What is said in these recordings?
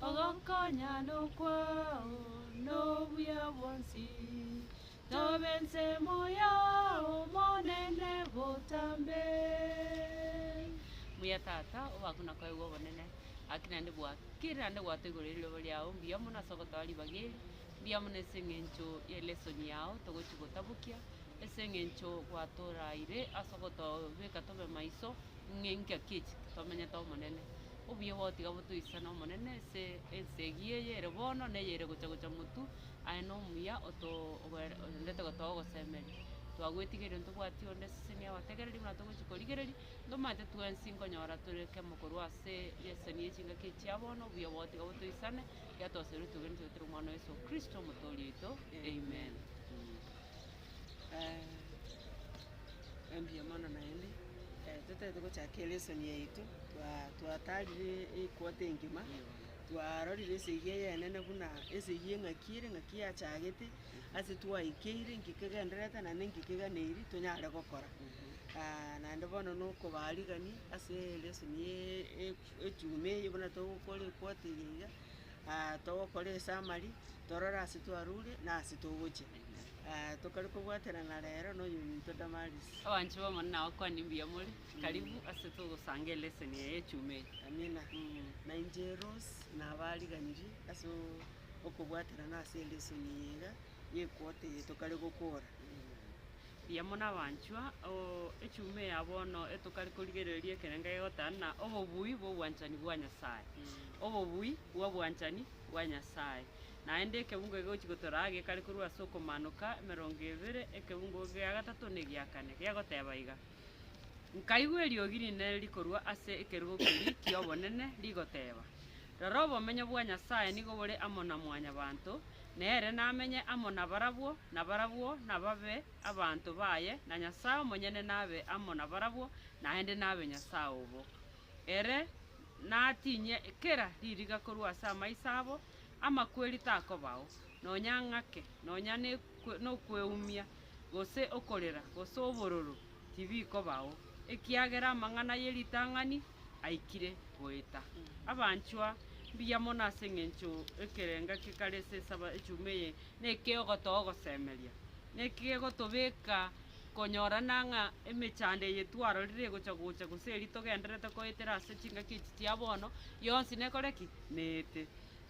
Ogokonyana kwao nobuya bwonsi, tobe ensemo yao Omonene botambe. Muya Tata, obakwe na koegwa obonene, gaki naende bwakere naende gwato igoro ye riroba riao, mbuya mono ase ogotoa ribaga eri, mbuya mono ase eng'encho ye lesson yao togochi gotabokia, ase eng'encho gwatoraire ase ogotobeka tobe maiso, ng'a engaki echi tomenyete Omonene. Obuya gotiga botoisa n'Omonene ase ense eyio eye ere bono, na eye ere gocha gocha motu, aye nomuya otoorendete gotoa ogosemeria. Twagwetigereria ntobwati onde eseseni ya gotegereria buna togochi korigereria, ntomanyete twensi nkonyora tore kemo korwa ase eseseni ye chingaki echi chia bono, obuya gotiga botoisane, giatoseretwe ogenete goetera Omwana o Yeso Kristo, Omotooria oito. Amen. engiya mono naende, totaete gochaka elesson yaito, twa- twatarire e- equarter engima, twarorire esegi eyenene buna esegi eng'aki ere ng'aki yachagete, ase twaikeire nki kegendererete naende nki keganeiri tonyare gokora. naende bono na okobarigani ase elesson ya e- ejuma eye buna togokora equarter eye iga, togokora esamari, torore ase twarure na ase togochia. Tokare kobwaterana rero noyominto Damaris. Abanchwa b'Omonene abakwane mbuya more, karibu ase togosanga eleseni eye echuma eye. Amina. Na inche Rose nabariganirie ase okobwaterana ase eleseni eye iga y'equota eye tokare gokora. Mbuya mono abanchwa, oo echuma eye ya bono etokare korigereria ekerengo egotana na obobui bw'obwanchani bwa Nyasaye. Obobui bw'obwanchani bwa Nyasaye. Naende ekebungo egegochia gotoora aa gekare korwa ase okomanoka emerongo ebere, ekebungo gia gatato na egia kane, gegoteeba iga, Nkaigwa eriogi rinene rikorwa ase ekerogo keria ki'obonene, rigoteeba, Rora obomenyo bwa Nyasae nigo bore amo na Mwanyabaanto, na ere namenye amo nabarabwo, na barabwo nababe abanto baye, na Nyasae omonyene nabe amo nabarabwo, naende nabe Nyasae obo. Ere natinye kera ririga korwa ase amaiso abo, Amakweri takobao, nonya ng'ake, nonya nokweumia, gose okorera, gose obororo, tibikobao, ekiagera amang'ana ye ritang'ani aikire goeta. Abanchwa, mbuya mono ase engencho ekerenga kekare ase esaba echuma eye nekegotoa ogosemeria, nekegotobeka konyorana ng'a emechando eye twarorire egocha gocha gose eri togendererete koetera ase chingaki echi chia bono, yonsi nekore ki? neete.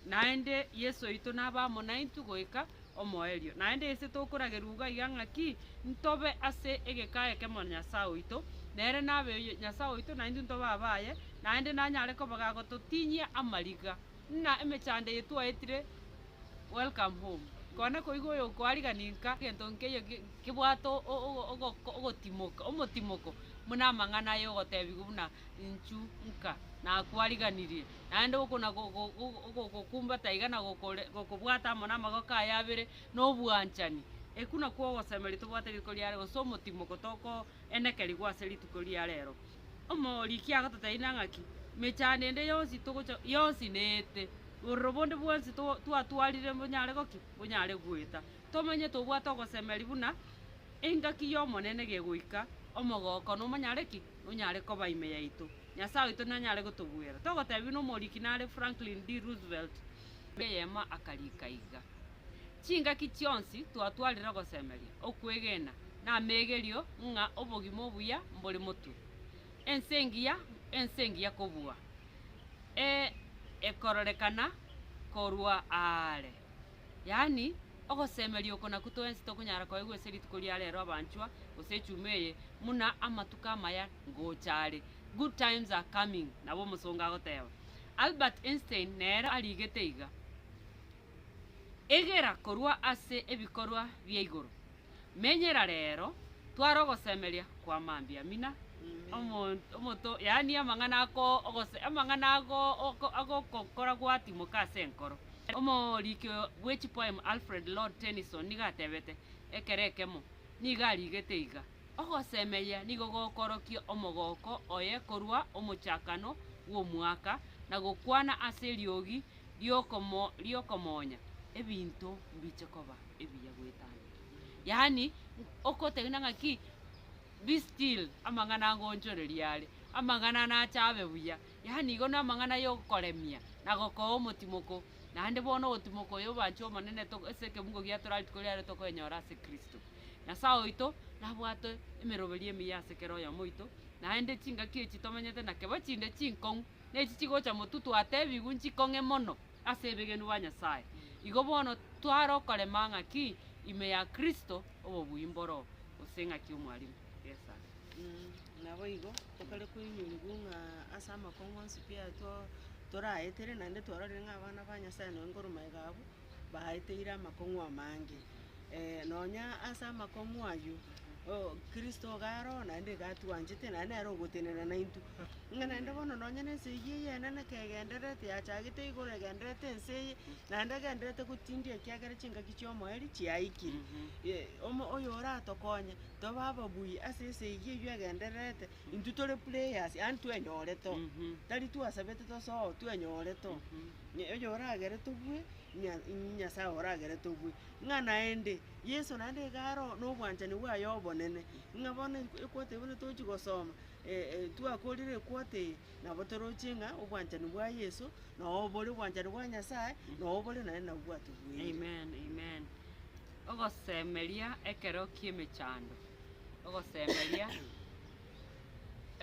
Naende Yeso oito nabe amo naintwe goika omoerio. Naende ise tokoragerwa iga iga ng'aki ntobe ase egeka ekemo na Nyasae oito, nere nabe Nyasae oito naintwe ntobe abaye, naende nanyare koba gagototinyia amariga, ng'a emechando eye twaetire Welcome Home. Kona koigwa oyokoarigania nka gento nkeiyo kebwate ogotimoka, omotimoko, buna amang'ana aye ogotebigwa buna inchu nka nakoariganirie. naende oko na go- go- go- ogogokumbata iga na gokore- gokobwata amo namagoko aye abere na obwanchani, ekio nakwo ogosemeria tobwate rituko ria rero, gose omotimo gotokoenekerigwa ase rituko ria rero. Omoriki agototeebia ng'a ki? Emechando ende yonsi togocha yonsi neete, bororo bonde bwonsi to- twatwarire mbonyare goki? Mbonyare goeta. Tomanye tobwate ogosemeria buna engaki y'Omonene gegoika, omogoko nomonyare ki? Nonyare koba ime yaito. Nyasae oito nanyare gotobuera. Togotebiwa nomoriki nare Franklin D. Roosevelt, Biblia eyemo akarika iga, Chingaki chionsi twatwarire ogosemeria, okwegena, na ameegerio ng'a obogima obuya mbore motwe. Ense engiya, ense engiya kobua, e, ekororekana korwa aare, yaani, Ogosemeria oko nakwo twensi tokonyara koegwa ase rituko ria rero abanchwa, gose echuma eye, buna amatuko amaya ngocha are. Good times are coming, nabo omosongo agoteba. Albert Einstein nere arigete iga, Egera korwa ase ebikorwa bia igoro. Menyera rero tware ogosemeria kwa mambia mina omonto, yaani amang'ana amang'ana agokokora gwatimoka ase enkoro. Omoriki bwe chipoem Alfred Lord Tennyson nigo atebete, Ekero ekemo nigo arigete iga, Ogosemeria nigo gokorokia omogooko oye korwa omochakano bw'omwaka na gokwana ase eriogi ri'okomoonya, ebinto mbiche koba ebiya goetania. Yaani okotegena ng'aki be still amang'ana ngoonchoreria are, amang'ana nache abe buya, yaani igo namang'ana yokoremia na gokoa omotimoko, naende bono ogotimoko oyo oboanchwa Omonene to ase ekebungo giaye tore rituko riare tokoenyora ase kristo. Nyasae oito nabwate emeroberio emiya ase kera oyomo oito, naende chingaki echi tomenyete nakebo chinde chinkong'u. nechi chigocha motu twatebigwe nchikong'e mono ase ebegenu bwa Nyasae. Igo bono tware okorema ng'aki ime ya Kristo, obobuya mboro, gose ng'aki omwalimu. Yes sir. Naboigo tokare koinyurigwa ng'a ase amakong'u onsi pi ayatwo toraetere, naende twarorire ng'a abana ba Nyasae noe ngorwa maega abwo, baeteire amakong'u amange. Eh, nonya ase amakong'u ayio, oh, Kristo iga aro oo naende iga atwanchete naende nere ogotenena naintwe. Ng'a naende bono nonya nense eyio eyene neke egendererete yachagete igoro egendererete ense eye, naende egendererete gotindia ekiagera chingaki chi'omoerio chiaikire. Ye, omo oyo oratokonye tobe ababuya ase ense eyio eyio egendererete, intwe tore players, yaani twenyorete oo. Tari twasabete tosoa oo, twenyorete oo. Ng'a oyo oragere tobue, ng'a inyi Nyasae oragere tobue. Ng'a naende, Yeso naende iga aro na obwanchani bwaye obonene, ng'a bono e- equote eye bono tochi gosoma, twakorire equote eye, nabo toroche ng'a obwanchani bwa Yeso, nabo bore obwanchani bwa Nyasae, nabo bore naende nabo bwatubueire. Amen, amen. Ogosemeria ekero ki'emechando, ogosemeria.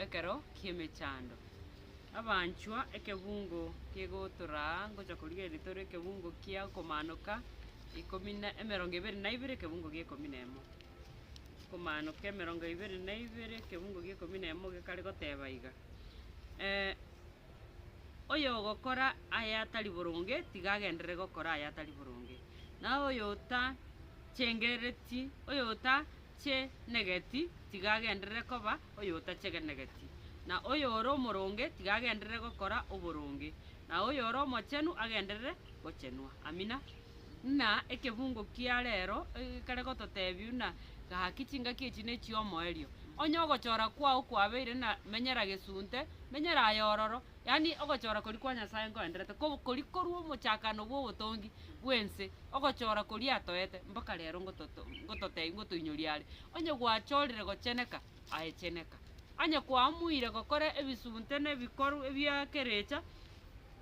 Ekero ki'emechando, abanchwa, ekebungo kegotoraa ngocha korigereria tore ekebungo kia okomanoka ikomi na emerongo ebere na ibere ekebungo gie ekomi na emo. Okomanoka emerongo ebere na ibere ekebungo gie ekomi na emo gekare goteba iga, oyogokora aya atari boronge tiga agenderere gokora aya atari boronge, na oyota chengerereti oyota. oyotenenegeti tiga agenderere koba oyotachegenegeti, na oyore omoronge tiga agenderere gokora oboronge, na oyore omochenu agenderere gochenwa. Amina. Buna ekefungo kia rero kere gototebia, buna gaki chingaki echi nechiomoerio, onye ogochora kwao kwabeire na menyera gesunte, menyera aye ororo, Yaani ogochora koria kwa Nyasae nkoenderete, ko koria korwa omochakano bw'obotongi bw'ense, ogochora koria atoete mpaka rero ngototo ngototebia ngotoinyoria are. Onye gwachorire gocheneka, aye cheneka. Onye kwamuire gokora ebisunte na ebikorw ebi'ekerecha,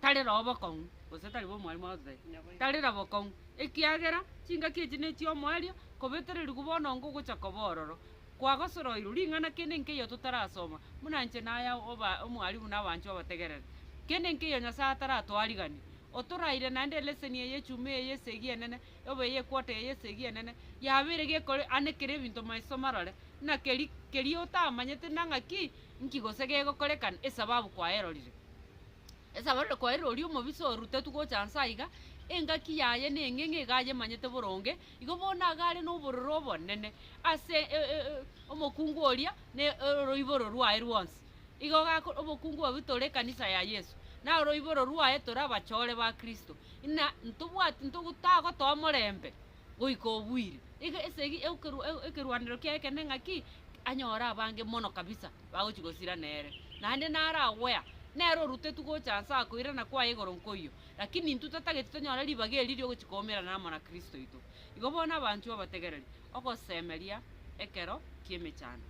tarera obokong'u, gose tari bw'omwarimu agototebia, tarera bokong'u, ekiagera chingaki echi nechi'omoerio, kobetererigwa bono ongo ogocha koba ororo. Kwagosoroirwe ring'ana kende nkeiyo totarasoma, buna inche na aya oba omwarimu na abanchwa abategerere. Kende nkeiyo Nyasae ataratwariganie. Otoraire naende eleseni eye echumi eye y'esegi enene, oba eye ekwota eye y'esegi enene, yabeire gekore ane kere ebinto maiso marore, na keri keria otamanyete na ng'aki nki gose gegokorekana esababu kwaerorire. Esababu rero kwaerire oria omobisa orutetwe gocha nse aiga, engaki yaye neng'eng'e iga ayemanyete boronge, Igo bono iga are nobororo obonene ase omokungu oria na oroiboro rwaye rwonsi. Igo gakora obokungu obwo tore ekanisa ya Yeso, na oroiboro rwaye tore abachore ba Kristo, na ntobwati ntagotoa morembe goika obuire. Iga esegi ekerwanero kiaye ekenene ng'aki? Anyore abange mono kabisa bagochi gosira nere, naende naragwea nere orutetwe gocha nse akoirana kwaye igoro nkoyio. Lakini intwe totageti tonyore ribaga eri riogochia koumerana amo na Kristo oito. Igo bono abanchwa bategereri ogosemeria ekero ki'emechando.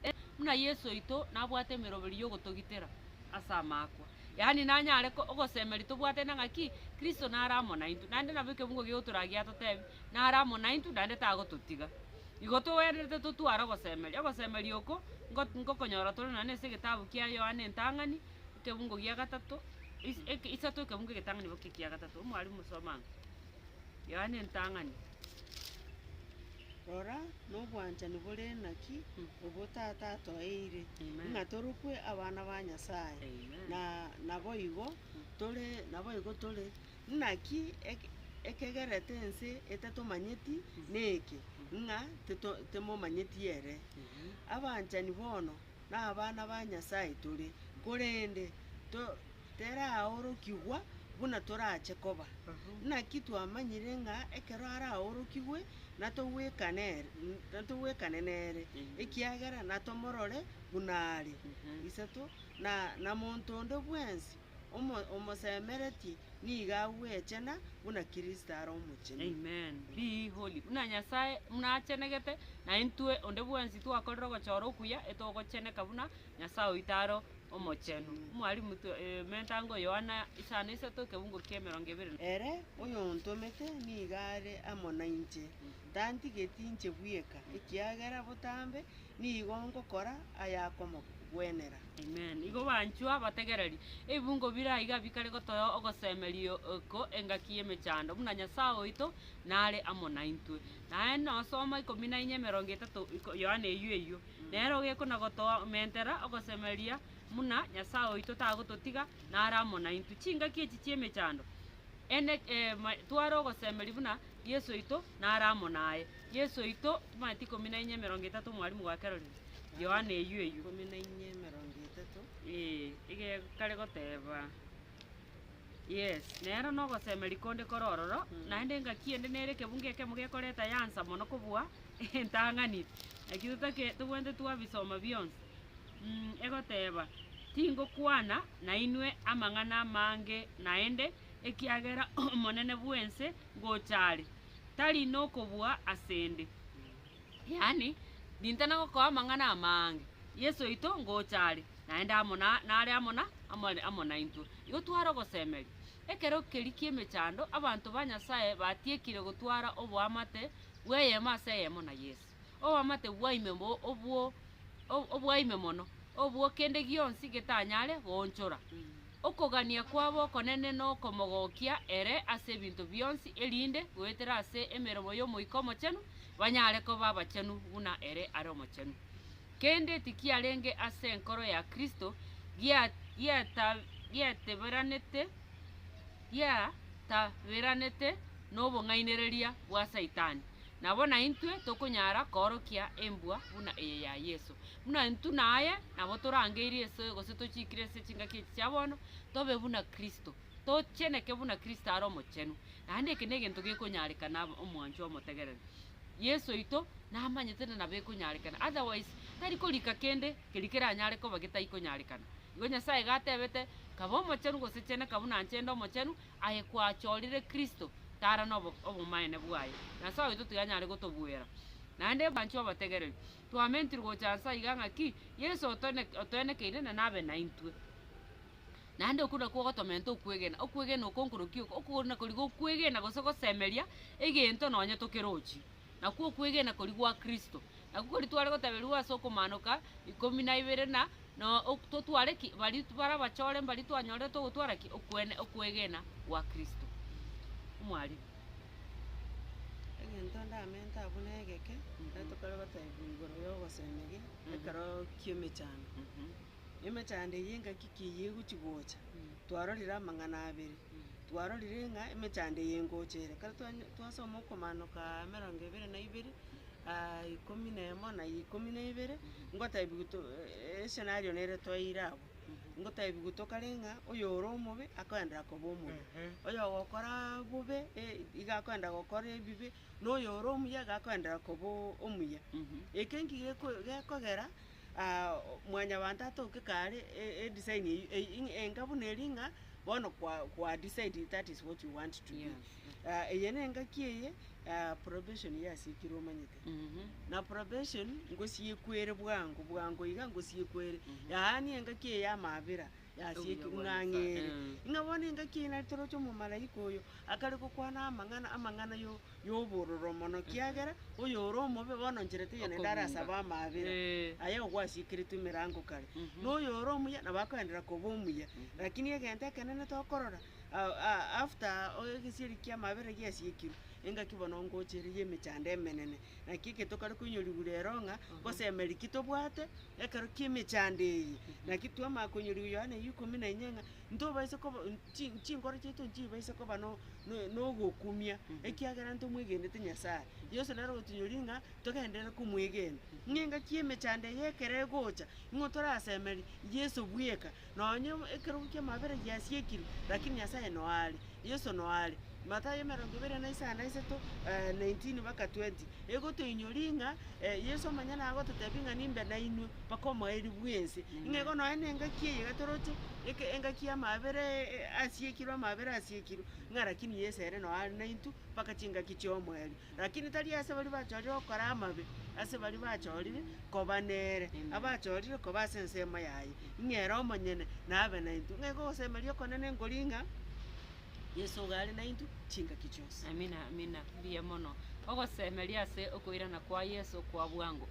Ee, buna Yeso oito nabwate emeroberi y'ogotogitera ase amaakwa, yaani nanyare ogosemeria tobwatene ng'a ki? Kristo nare amo naintwe, naende nabo ekebugo gi'ogotoraga giatotebi, nare amo naintwe, naende tagototiga. Igo togwenerete totware ogosemeria. Ogosemeria oko nkokonyora tore nonya nase egetabu kia Yohana entang'ani. Ekebungo gia gatato, is- eke- isato ekebungo egetang'ani boka ekia gatato. Omwalimu soma ang'o? Yohana entang'ani. Rora, nobwanchani bore naki Mm. obo Tata atoeire, Amen. ng'a torokwe abana ba Nyasae, Amen. na naboigo tore naboigo tore. Naki eke- ekegerete ense etatomanyeti neke, ng'a tito- timomanyeti ere. Abanchani bono, nabana ba Nyasae tore, korende to teraorokigwa buna torache koba. Naki twamanyire ng'a ekero araorokigwe natogwekana ere, natogwekane nere, ekiagera natomorore buna are. Isato, na, na monto onde bwensi Omo, omosemeretie nigo agwechena buna Kristo are omochenu. Amen. Be ye holy, buna Nyasae buna achenegete, na intwe onde bwensi twakorire ogochora okuya, etogocheneka buna Nyasae oito are omochenu. Mwalimu, tu- eh, menta ango Yohana isano isato ekeungo kia emerongo ebere na. Ere oyontomete nigo are amo nainche, tantigeti inche bweka, ekiagera botambe Nigo ngokora ayakomogwenera. Amen. Igo banchwa bategereri, ebibungo bire aiga bikare gotoa ogosemeria oko engaki y'emechando, buna Nyasae oito nare amo naintwe. Naye nosoma ikomi na inya emerongo etato, Yohana eyio eyio, nere ogekwa na gotoa omentera ogosemeria buna Nyasae oito tagototiga nare amo naintwe. Chingaki echi chi'emechando, ene, e, tware ogosemeria buna Yeso oito nare amo naye. Yesu oito, Timati ikomi na inye emerongo etato Omwalimu gwakerorire Yohana eyio eyio. Ikomi na inye emerongo etato. Ee, iga kare goteba. Yes, nero nogosemeria konde kore ororo, naende engaki ende nere ekebunga ekemo gekoreta yansa mono kobua entang'ani, naki totake tobwenerete twabisoma bionsi. Mh, egoteba, Tingokwana nainwe amang'ana amange naende, ekiagera omonene bw'ense ngocha are, tari nokobua ase 'nde. Yaani, rintana gokoa amang'ana amaange, Yeso oito ngocha are, naende amo na, nare amo na, amo, amo naintwe. Igo tware ogosemeria. Ekero keria ki'emechando, abanto ba Nyasae batiekire gotwara oboamate bw'eyemo ase eyemo na Yeso. Oboamate bwaime mbo obwo o- obwaime mono, obwo kende gionsi getanyare goonchora. Okogania kwabo okonene nokomogokia ere ase ebinto bionsi, erinde, goetera ase emeremo y'Omoika Omochenu, banyare koba abachenu buna ere are omochenu. Kende tikiarenge ase enkoro ya Kristo gia- giata- giateberanete, giataberanete nobong'ainereria bwa Saitani, nabo naintwe tokonyara koorokia embwa buna eye ya Yeso. Buna intwe naye nabo torangeirie ase gose tochiikire ase chingaki echi chia bono, tobe buna Kristo, tocheneke buna Kristo are omochenu. Naende eke negento gekonyarekana aba omwanchwa omotegereri. Yeso oito namanyete na nabo ekonyarekana, otherwise tari korika kende. Keria keranyare koba getaikonyarekana. Igo Nyasae iga atebete, Kaba omochenu, gose cheneka buna inche nde omochenu, aye kwachorire Kristo, tara nobomaene bwaye. Nyasae oito tiganyare gotobuera. Naende abanchwa abategereri, twamentiri gocha nsa iga ng'a ki? Yeso otoenekeire na nabe naintwe. Naende okwo nakwo ogotomenta okwegena. Okwegena oko nkorukia oko, okogorina kori gokwegena gose gosemeria egento nonye tokerochi. nakwo okwegena koria gwa Kristo. Nakwo koria tware gotaberigwa ase okomaanoka ikomi na ibere na no ok totware ki? Baria bare abachore mbaria twanyorete ogotwara ki? Okwene okwegena gwa Kristo. Omwarimu. Egento ndamente abwo negeke, ekero tokore gotaebwa igoro ya ogosemeria ekero ki'emechando. Emechando eye engaki ki eyio egochi gocha? Twarorire amang'ana abere, twarorire ng'a emechando eye ngocha ere, ekero twanya twasoma okomaanoka emerongo ebere na ibere, ikomi na emo na ikomi na ibere, ngotebiwa to escenario nere twaeire abwo, ngotebiwa tokare ng'a oyore omobe akoendera koba omobe, oyogokoraa bobe e- iga akoenda gokora ebibe, na oyore omuya iga akoendera koba omuya. Eke nki geko gekogera. mwanyabanto atoke kare edesign eyio enga buna eria ng'a bono kwa kwa decide that is what you want to be. Yes. Eye nengaki eye probation yasikire omanyete. Na probation ngosiekwere bwango bwango iga ngosiekwere. Yaani engaki eye ya amabera. Yasiekire ng'a ang'eere. Ng'a bono engaki eye nari toroche omomalaika oyo akare gokwana amang'ana, amang'ana yo- y'obororo mono, kiagera oyore omobe bono nchera teiyo naende are ase Okobunga. abamabera, Eh. aye ogwasiekeretwe emerango kare, na oyore omuya nabo akoenderera koba omuya. Rakini egento ekenene tokorora, a- a- after egesieri ki'amabera giasiekirwe, engaki bono ngocha ere y'emechando emenene, Naki eketokare koinyorigwa rero ng'a ngosemeri ki tobwate ekero ki'emechando eye, naki twamanya koinyorigwa Yohana ya ikomi na inye ng'a ntobaisa koba chi- chinkoro chiaito nchibaisa koba no- no- nogokumia, ekiagera ntomwegenete Nyasaye. Yeso nere ogotinyoria ng'a togenderere komwegena. Ng'a engaki y'emechando eye ekero egocha, nigo torasemeri Yeso bweka. Nonya ekerogo ki'amabera giasiekire, lakini Nyasaye noare, Yeso noare. Mathayo emerongo ebere na isano na isato, 19 mpaka 20, egotoinyoria ng'a Yeso omonyene agototebia ng'a nimbe nainwe mpaka omoerio bw'ense. Ng'a igo nonya nengaki eye gatoroche, eke engaki y'amabera asiekirwe, amabera asiekirwe, ng'a lakini Yeso ere noare naintwe mpaka chingaki chi'omoerio. Lakini tari ase baria bachorire gokora amabe, ase baria bachorire koba nere, abachorire koba ase ensemo yaye, ng'a ere omonyene nabe naintwe. Ng'ai gogosemeria okonene nkori ng'a Yeso iga are naintwe chingaki chionsi? Amina, amina, mbuya mono. Ogosemeria ase okoirana kwa Yeso kwa bwango.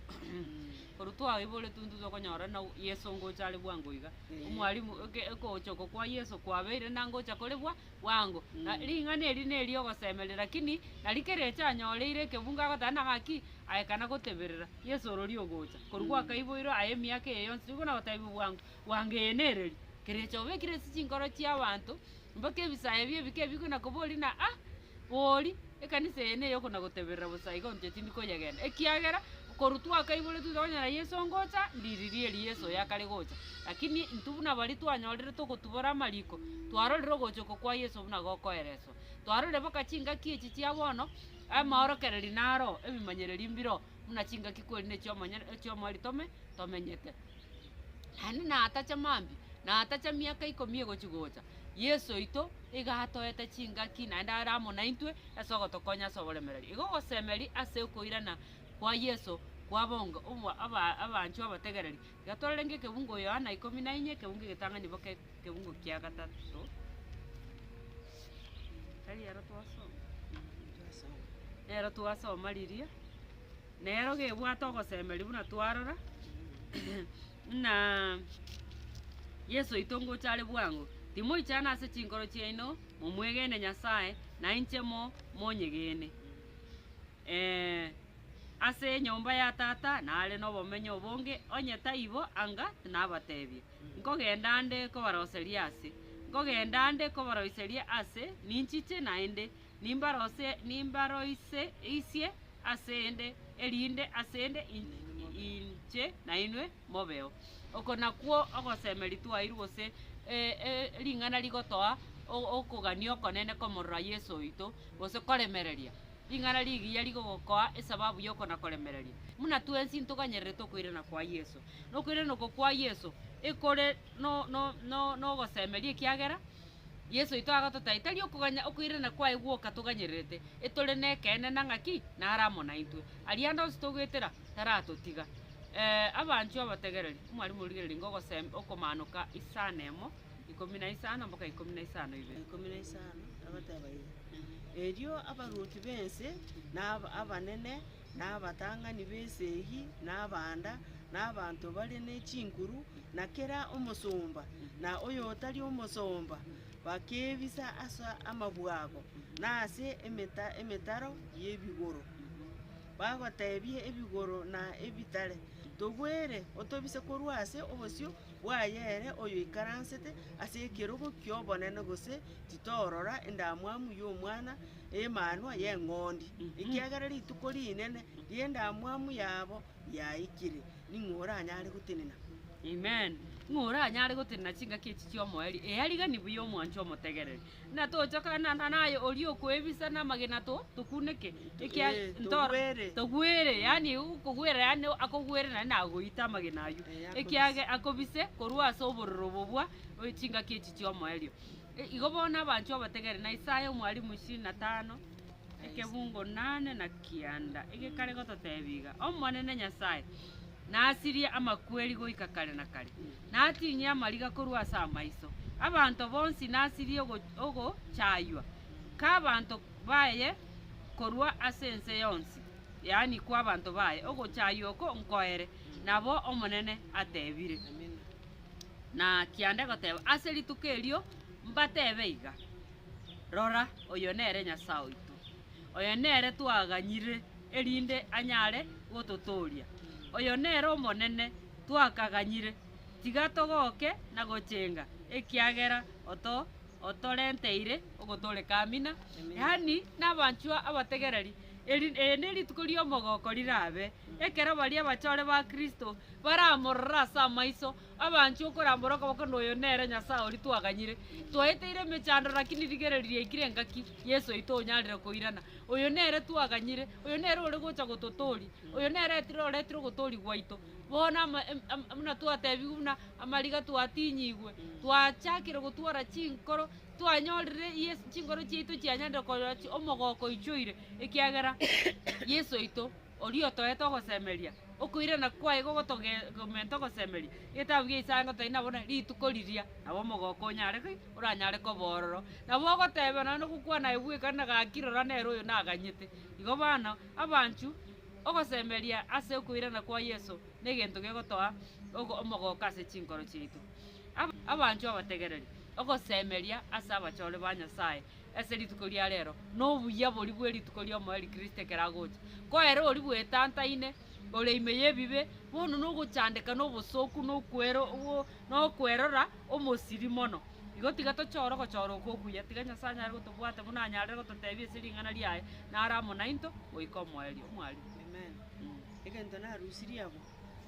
Korwa twaoiboretwe intwe tokonyora na Yeso ngocha are bwango iga. Omwalimu, oke- okogocha oko kwa Yeso kwabeire na ngocha kore bwa- bwango. Na ring'ana eri neri'ogosemeria, lakini nari kera eche anyoreire ekebungo agoteba, Nagaki, aye kana goteberera, Yeso orori ogocha, korwa gwakaiboirwe aye emiaka eye yonsi, nigo nagotebiwa bwango bwango eye nereri. Kera echo obekire ase chinkoro chi'abanto, mpaka ebisayo bie bike bikwe nakoboria na, Ah! Bori! Ekanisa eye ney'oko na goteberera bosa igo inche tindi koyegenda, ekiagera korwa twakaiboretwe twakonyora Yeso ongocha, ndiririe erio Yeso oyo akare gocha. Lakini intwe buna baria twanyorire togotubora amariko, twarorire ogocha oko kwa Yeso buna gokoereswa. Twarorire mpaka chingaki echi chia bono, amaorokererio naro, ebimanyererio mbiroo. buna chingaki kweri ne chiomonyene echiomoarito ime tomenyete. Naende natacha mambia, natacha miaka ikomi egochi gocha, Yeso oito iga atoete chingaki naende are amo naintwe ase ogotokonya ase oboremereria. Igo ogosemeria ase okoirana kwa Yeso kwa bonga obwa aba abanchwa abategereri Iga tororenge ekebungo Yohana ikomi na inye, ekebungo egetang'ani boka ekebungo kia gatato. Tari ero twasoma? Nero twasoma riria, nero gebwate ogosemeria buna twarora, buna Yeso oito ngocha are bwango, Timoichana ase chinkoro chiaino, momwegene Nyasae, na inche mo monyegene. Ee, ase enyomba ya Tata nare nobomenyo obonge, onye taibo, anga tinabateebie. Nkogenda 'nde kobaroseria ase. Nkogenda 'nde kobaroiseria aase, ninchiche naende, nimbarose nimbaroise isie asende, erinde asende inche nainwe mobeo. Oko nakwo ogosemeria twairwe gose ring'ana rigotoa okogania okonene komorora Yeso oito, gose koremereria. Ring'ana rigiya rigogokoa esababu y'oko na koremereria. Buna twensi ntoganyererete okoirana kwa Yeso, na okoirana oko kwa Yeso ekore no, no, no, nogosemeria ekiagera Yeso oito agototaia tari okoganya okoirana kwaye gwoka toganyererete, etore nekeene na ng'aki nare amo naintwe. Aria ande onsi togoetera taratotiga. Eh, abanchwa abategereri, omwarimu origereria ngogosem okomanoka isana emo. ikomi na isano mpaka ikomi na isano ibere. ikomi na isano, agateba iga, Erio abaruoti b'ense, na ab- abanene, na abatang'ani b'ense eyio, na abanda, na abanto bare ne chinkuru, na kera omosomba, na oyotari omosomba, bakebisa ase amabwago, na ase emeta- emetaro y'ebigoro, bagotebia ebigoro na ebitare, Togwere, otobise korwa ase obosio bwaye ere oyoikaransete ase ekerogo ki'obonene gose titorora endamwamu y'omwana Emanwa y'eng'ondi, ekiagera rituko rinene ri'endamwamu yabo yaikire. Ning'o oranyare gotenena? Amen. Ng'o oranyare gotenena chingaki echi chi'omoerio? Eariganigwe y'omwanchwa omotegereri. Ng'a tochokana naye oria okoebisa namagena tokuneke, ekiagera togwere, Ee, togwere. togwere, yaani okogwera, yaani akogwere naende nagoite amagena ayio, Ee, akobise. ekiagera akobise korwa ase obororo obo bwa o- chingaki echi chi'omoerio. E- Igo bono abanchwa obategere, na Isaya omwalimu ishirini na tano, ekebungo nane na kianda, egekare gototebia iga, Omonene Nyasae, Nasirie amakweri goika kare na kare, natinye amariga korwa ase amaiso. Abanto bonsi nasirie ogochaywa k'abanto baye korwa ase ense yonsi, yaani kw'abanto baye, ogochaywa oko nkoere, nabo Omonene atebire. Na kianda goteba ase rituko erio, mbatebe iga, Rora, oyo nere Nyasae oito, oyo nere twaganyire. erinde anyare gototooria. Oyo nere Omonene twakaganyire, tiga togoke na gochenga, ekiagera otorenteire ogotooreka amina, yaani nabanchwa abategereri, erinde erituko ri'omogoko rirabe, ekero baria abachore ba Kristo baramorore ase amaiso, Abanchwa okorambora okoboko noyo nere Nyasae oria twaganyire. Twaeteire emechando lakini rigereria ekire engaki Yeso oito onyarire koirana. Oyo nere twaganyire, oyo nere ore gocha gototooria, oyo nere etire oretire ogotoria gwaito. Bono ama em am buna twatebigwe buna amariga twatinyigwe, twachakire gotwara chinkoro, twanyorire Yeso chinkoro chiaito chianyarire konyora chi omogoko oichoire ekiagera Yeso oito. Oria otoete ogosemeria, okoirana kwaye igo gotogomeete ogosemeria, Ebitabu bia Isaya ngotoe nabo na rituko riria, nabo omogooko onyare ki? oranyare koba ororo. Nabo ogoteba nonya nogokwana aye bweka na gaki rora nere oyo naganyete. Igo bono, abanchu, ogosemeria ase okoirana kwa Yeso negento gegotoa ogo omogooko ase chinkoro chiaito. Abanchu abategereri, ogosemeria ase abachore ba Nyasaye Ase rituko ria reero, nobuya boria bwe rituko ri'omoerio Kristo ekero agocha. Ko ere oria bwetantaine, ore ime y'ebibe, bono nogochandeka nobosooku nokwerora omosiri mono. Igo tiga tochore ogochora oko okuya, tiga Nyasae anyare gotobwata buna anyarire gototebia ase ring'ana riaye nare amo nainto goika omoerio. Omwarimu. Amen. Egento narusirie amo.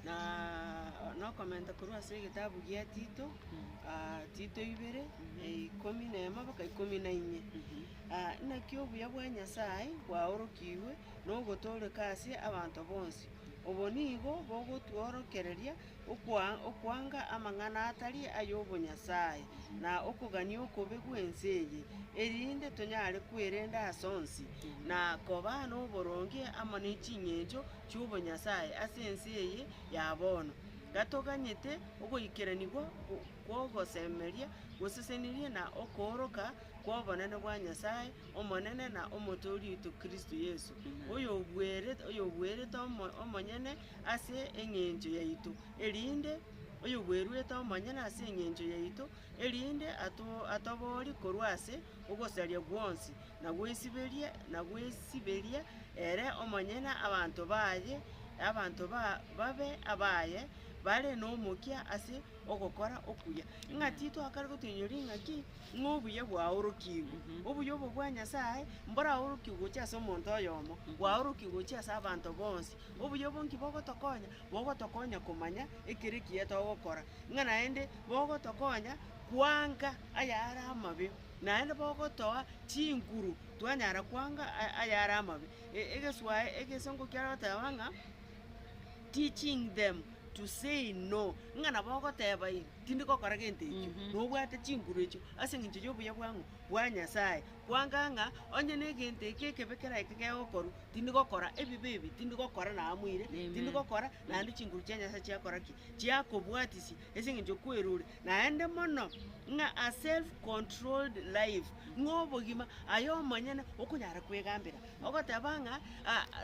Na nokomenta korwa ase egetabu gia Tito, Tito ibere, ikomi na emo mpaka ikomi na inye. Naki obuya bwa Nyasae bwaorokigwe na ogotooreka ase abanto bonsi. Obo nigo bogotworokereria okwa- okwanga amang'ana atari ay'obonyasae, na okogania okobe gw'ense eye, erinde tonyare kwerenda ase onsi, na koba noboronge amo ne ching'encho chi'obonyasae ase ense eye ya bono, gatoganyete ogoikeranigwa kw'ogosemeria gosesenirie na okooroka kw'obonene bwa Nyasae Omonene na Omotooria oito Kristo Yeso, oyobuerete omonyene ase engencho yaito, erinde oyobueruete omonyene ase engencho yaito, erinde atoboorie korwa ase Ogosaria gwonsi nagwesiberie, nagwesiberie ere omonyene abanto baye, abanto babe abaye, bare nomokia ase ogokora okuya. Ng'a titwakare gotenenwa ring'aki ng'a obuya bwaorokigwe. Obuya obo bwa Nyasae mboraorokigwe gochia ase omonto oyomo, bwaorokigwe gochia ase abanto bonsi. Obuya obwo nki bogotokonya? Bogotokonya komanya ekero ekiya togokora, ng'a naende bogotokonya kwanga ayare amabe, naende bogotoa chinguru twanyara kwanga aya- ayare amabe. E- egeswae- egesongo kiare goteba ng'a teaching them to say no, ng'a nabo ogoteba ii tindi gokora gento ekio, nobwate chinguru echio ase eng'encho ya obuya bwang'o? Bwa Nyasaye, kwanga ng'a onye na egento eke ekebe kere eke kegokorwa, tindi gokora ebibe ebi, tindi gokora na amoire, tindi gokora naende chinguru chia Nyasaye chiakora ki? Chiakobwatisia ase eng'encho kwerure Naende mono ng'a a self-controlled life, ng'a obogima aye omonyene okonyara kwegambera, ogoteba ng'a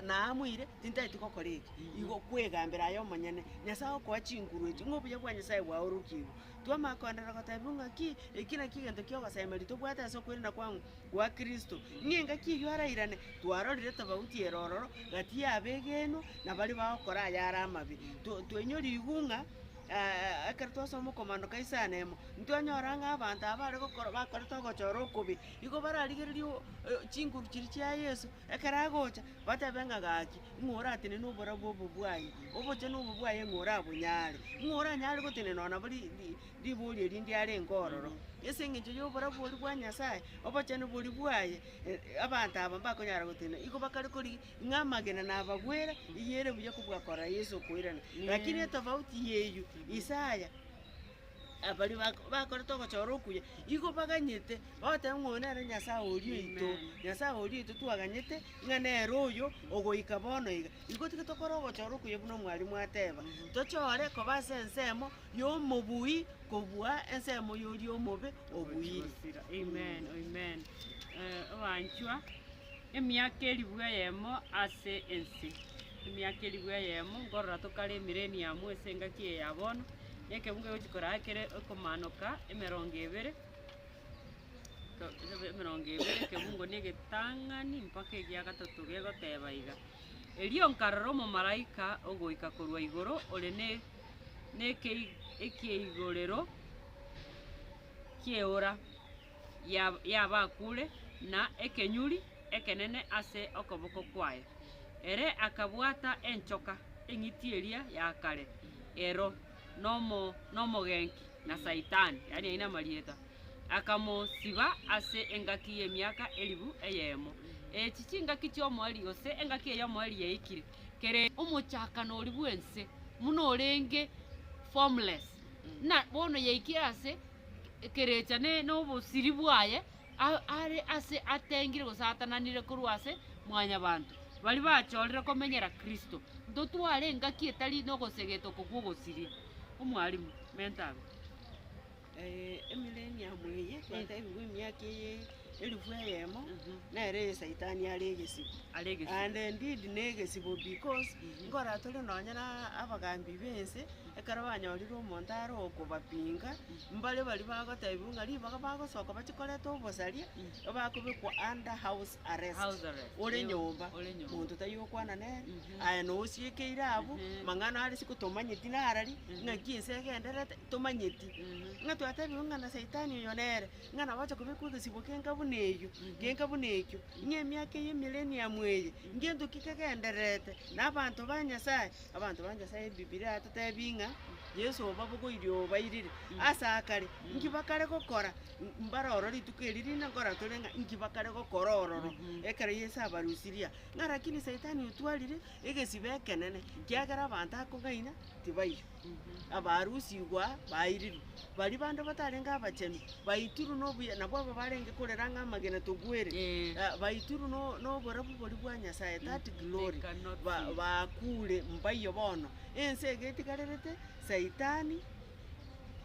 naamoire tintageti gokora eki, igo kwegambera aye omonyene, Nyasae okoa chinguru echio, ng'a obuya bwa Nyasae bwaorokigwe. Twamanya koenderera gotebiwa ng'aki, eki nakio egento kia ogosemeria tobwate ase okwegena kwang'u gwa Kristo, ng'a engaki eyio arairane, twarorire tofauti ere ororo gati y'abegenwa na baria bagokora ayare amabe, to toinyori igung'a. ekero twasoma okomando ka isano emo, ntwanyora ng'a abanto aba bare gokora bakorete ogochora okobe, igo bararigererie o- o- chinguru chiria chia Yeso, ekero agocha, batebe ng'a gaki, ng'a oratenene oborabu obo bwaye, obochenu obo bwaye ng'a orabonyare, ng'a oranyare gotenena ona nabo ri- ri- ribori eria ndiarenge ororo. Ase eng'encho y'oborabu oria bwa Nyasaye, obochenu boria bwaye, abanto aba mbakonyara gotenena, igo bakare korigia Ng'a amagena nabagwere, eyio ere buya kobua korora Yeso okoirana. Lakini etofauti y'eyio, Isaya, abaria bak- bakorete ogochora okuya, igo baganyete bagoteba ng'a oyo nere Nyasae oria oito, Nyasae oria oito twaganyete ng'a nere oyo ogoika bono iga. Igo tiga tokore ogochora okuya buna omwarimu ateba, tochore koba ase ensemo y'omobui kobua ensemo y'oria omobe obuire. Amen, amen. Eh, abanchwa. Emiaka elifu eyemo ase ense, emiaka elifu eyemo nkorora tokare emireniamu ase engaki eye ya bono, na ekeunga egochi koraa kere ekomaanoka emerongo ebere, to- tobe emerongo ebere ekebungo na egetang'ani mpaka egia gatato gegoteeba iga. Erio nkarora omomalaika ogoika korwa igoro ore ne nekei ekeigorero ki'eora. y'abakuure na ekenyuri ekenene ase okoboko kwaye. Ere akabwata enchoka eng'iti eria ya kare ero n'omogenki na Saitani, akamosiba ase engaki y'emiaka elifu eyemo. Echi chingaki chi'omoerio, gose engaki eye y'omoerio yaikire kerende omochakano oria bw'ense buna orenge formless. na bono yaikire ase ekerecha ne- nobosiri bwaye, a- are ase atengire gose atananire korwa ase mwanyabanto, baria bachorire komenyera Kristo. Ntotware engaki etari nogosegeta oko kw'ogosiria. Omwalimu, menta abe. Eh, emillennium eye twatebigwa emiaka eye elifu eyemo, nere eye saitani are egesibo. Are egesibo. And indeed na egesibo because, nkora tore nonye na abagambi b'ense. Ekero banyorire omonto are okobapinga, mbaria baria bagotebiwa ng'a ribaga bagosoka bache koreta obosaria, bakobekwa under house arrest, House arrest, ore eh, nyomba, ore nyomba. monto tari okwana nere, aye nosiekeire abwo, mang'ana are isiko tomanyeti narari, ng'aki ense egendererete, tomanyeti. Ng'a twatebiwe ng'a na saitani oyo nere, ng'a nabo acha kobekwa egesibo kenka buna eyio, genka buna ekio, ng'a emiaka eye emireniamu eye, ngento ki kegendererete, na abanto ba Nyasaye, Abanto ba Nyasae Ebibilia yatotebi ng'a Yeso obabogoirie obairire. Ase akare, inki bakare gokora? Mbare ororo rituko eri rinde nkoratore ng'a inki bakare gokora ororo ekero Yeso abarusirie. Ng'a rakini saitani otwarire egesibe ekenene, kiagera abanto akong'aina tibaiyo, abarusigwa bairirwe. baria bande batarenge abachenu, baitirwe nobuya, nabo aba barenge korera ng'a amagena togwere, Eh. eh, baitirwe no- noborabu boria bwa Nyasaye, that glory, They cannot ba- see. baakure mbaiywo bono. Ense iga etigarerete Saitani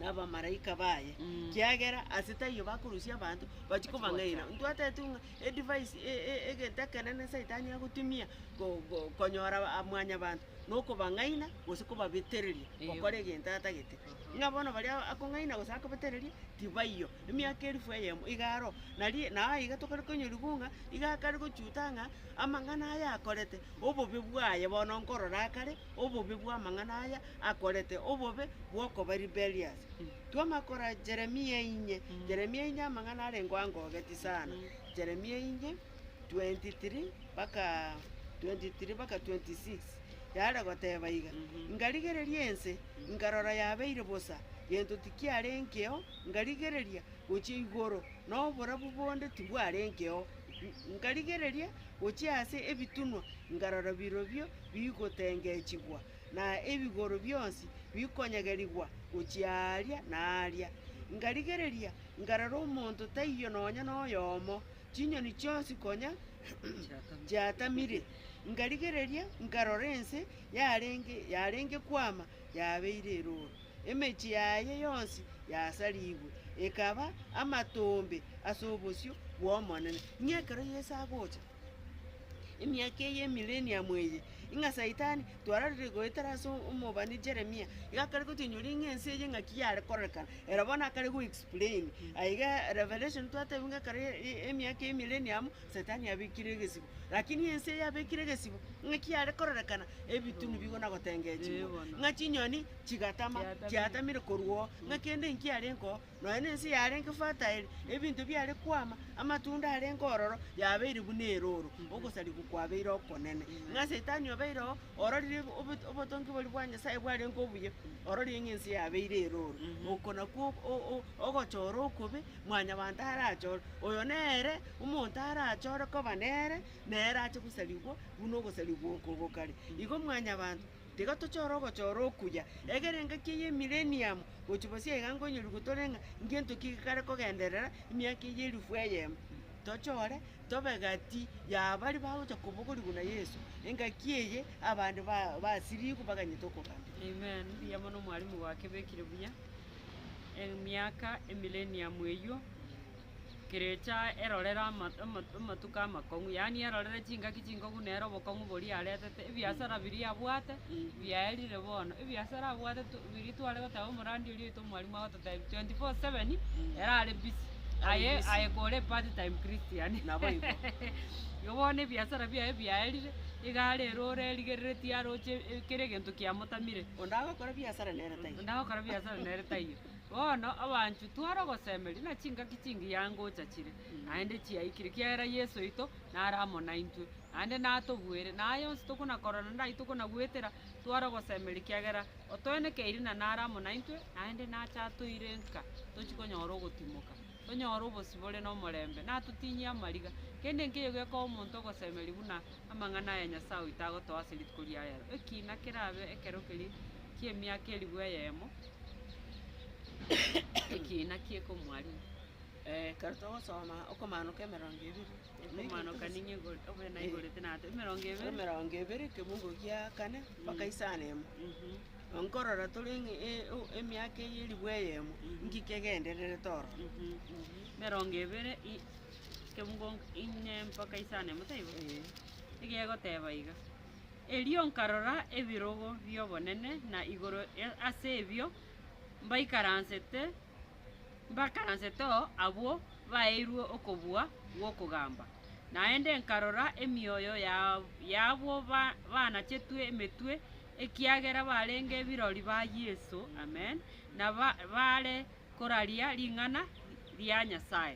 na abamaraika baye, Mm. kiagera ase taiyo bakorusia abanto, bachia kobang'aina. Gocha. Ntwataetwe ng'a edivice e- e- egento ekenene Saitani agotumia ko- ko- konyora mwanyabanto, nokobang'aina gose kobabetereria gokora egento atagete. Ng'a bono baria akong'aina gose akobetereria tibaiyo. Emiaka elifu eyemo iga aro, nari na aiga tokare konyoriwu ng'a iga akare gochuta ng'a amang'ana aya akorete, obobe bwaye bono nkorora akare obobe bw'amang'ana aya akorete, obobe bw'okoba rebellious. Twamanya kora Jeremia inye, Jeremia inye amang'ana arengo angogetie sana, Jeremia inye. 23:23-26, Yaare goteba iga, Ngarigereria ense, nkarora yabeire bosa, gento tikiarengeo, ngarigereria, gochia igoro, na oborabu bonde tibwarengeo, ngarigereria, gochia ase ebitunwa, nkarora birobio bigotengechigwa, na ebigoro bionsi bikonyegerigwa gochia aaria na aaria. Ngarigereria, nkarora omonto taiyo nonya noyomo. Chinyoni chionsi konya chiatamire, nkarigereria, nkarora ense yarenge yarenge kwama yabeire erooro, emechie yaye yonsi yasarigwe, ekaba amatombe ase obosio bw'Omonene. Ng'a ekero Yeso agocha, emiaka eye y'Emileniamu eye, ng'a Saitani twarorire goetera ase omobani Jeremia, iga akare gotoinyoria ng'a ense eye ng'aki yare kororekana, ere bono akare go explain. Aye iga Revelation twatebiwe ng'a ekero emiaka ya Emillennium, Setani abekire egesibo, rakini ense eye abekire egesibo, ng'aki yare kororekana, ebitu nibigo na gotengechigwa, ng'a chinyoni chigatama, chiatamire korwa oo, ng'a kende inki yarenge oo, Nonya nense yarenge fataeli, ebinto biare kwama, amatunda arenge ororo, yabeire buna erooro, ogosarigwa kwabeire okonene. Ng'a Saitani obeire oo, ororire obo- obotongi boria bwa Nyasae bwarenge obuya, ororire ng'a ense yabeire erooro. Oko nakwo ok- o- o- ogochora okobe, mwanyabanto arachore, oyo nere omonto arachore koba nere, nere ache gosarigwa buna ogosarigwa oko gokare. Igo mwanyabanto. Tiga tochore ogochora okuya, egere engaki eye ye Mileniamu gochia bosio iga nkonyorigwe gotore ng'a ngento ki gekare kogenderera emiaka eye elifu eyemo. Tochore tobe gati ya baria bagochia kobogorigwa na Yeso, engaki eye abande basirigwe baganyete okogambia. Amen, mbuya mono mwalimu gwakebekire buya. Emiaka emileniamu eyio. Kerecha erorere amatuko amakong'u, yaani erorere chingaki chingokong'u nere obokong'u boria aretete, ebiasara biria abwate biaerire bono. Ebiasara abwate to biria tware goteba omoradi oria oito mwarimu agototebia twenty four seven erare busy aye aye kore part time christian igo bono ebiasara biaye biaerire, egari erore erigereretie aroche kera egento kiamotamire. Onde agokora ebiasara nere taiyo. Bono abanchwa tware ogosemeria, na chingaki chingiya ngocha chire, naende chiaikire, ekiagera Yeso oito nare amo naintwe, naende natobuere, na aya onsi tokonakora naende ayio tokonagwetera, tware ogosemeria, ekiagera otoenekeire na nare amo naintwe, naende nache atoire nka tochie konyora ogotimoka, tonyore obosio bore nomorembe, natotinyie amariga. Kende nkeiyo gekoa omonto ogosemeria buna amang'ana aya Nyasae oito agotoa ase rituko ria rero, ekina kerabe ekero keria ki'emiaka elifu eyemo, Ekiina ki'ekomwarimu. Ekero togosoma okomaanoka emerongo ebere. Ekomaanoka ninye igoro, obe naigorete nato. Emerongo ebere. Emerongo ebere ekemungo gia kane mpaka isano emo. Nkorora tore ng'e e- o- emiaka eye eribu eyemo, nki kegendererete oro? Emerongo ebere i ekemungo inye mpaka isano emo taibo? Egegoteeba iga. Erio nkarora ebirogo bi'obonene, na igoro ase ebio mbaikaransete mbakaransete oo abwo baeirwe okobua gw'okogamba. Naende nkarora emioyo y'abwo baanachetwe emetwe, ekiagera barenge ebirori ba Yeso, Amen, na bare koraria ring'ana ria Nyasae.